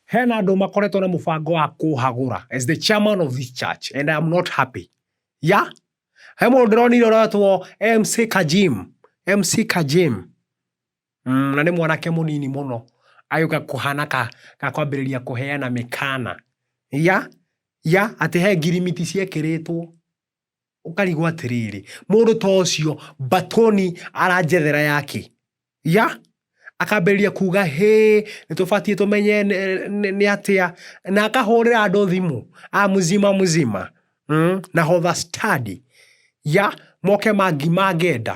Hena andũ makoretwo na mũbango wa kũhagũra as the chairman of this church and I am not happy. Ya? He mũndũ ndĩronire ũretwo MC Kajim. MC Kajim. Mm, na nĩ mwanake mũnini mũno agĩũka kũhana ka, ka kwambĩrĩria kũheana mĩkana ya ya atĩ he ngirimiti ciekĩrĩtwo Ũkarigwo atĩrĩrĩ, mũndũ ta ũcio mbatũni aranjethera ya kĩ? Ya? Akambĩrĩria kuga hĩ, nĩtũbatiĩ tũmenye nĩ atĩa, na akahũrĩra andũ thimũ, a mzima mzima, nahodha stadi, ya? Moke mangĩenda.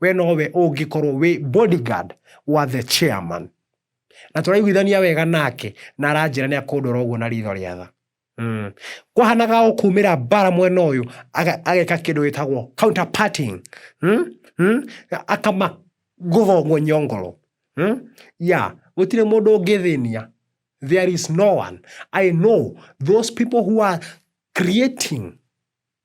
we nowe ũngĩkorwo wĩ body guard wa the chairman na tũraiguithania wega nake na aranjĩra nĩ akũndora ũguo na ritho rĩa tha Mm. kwahanaga o kumĩra mbara mwena ũyũ aga- ageka kĩndũ gĩtagwo counterparting mm? Mm? akama gũthongwo nyongoro mm? ya gũtirĩ mũndũ ũngĩthĩnia there is no one i know those people who are creating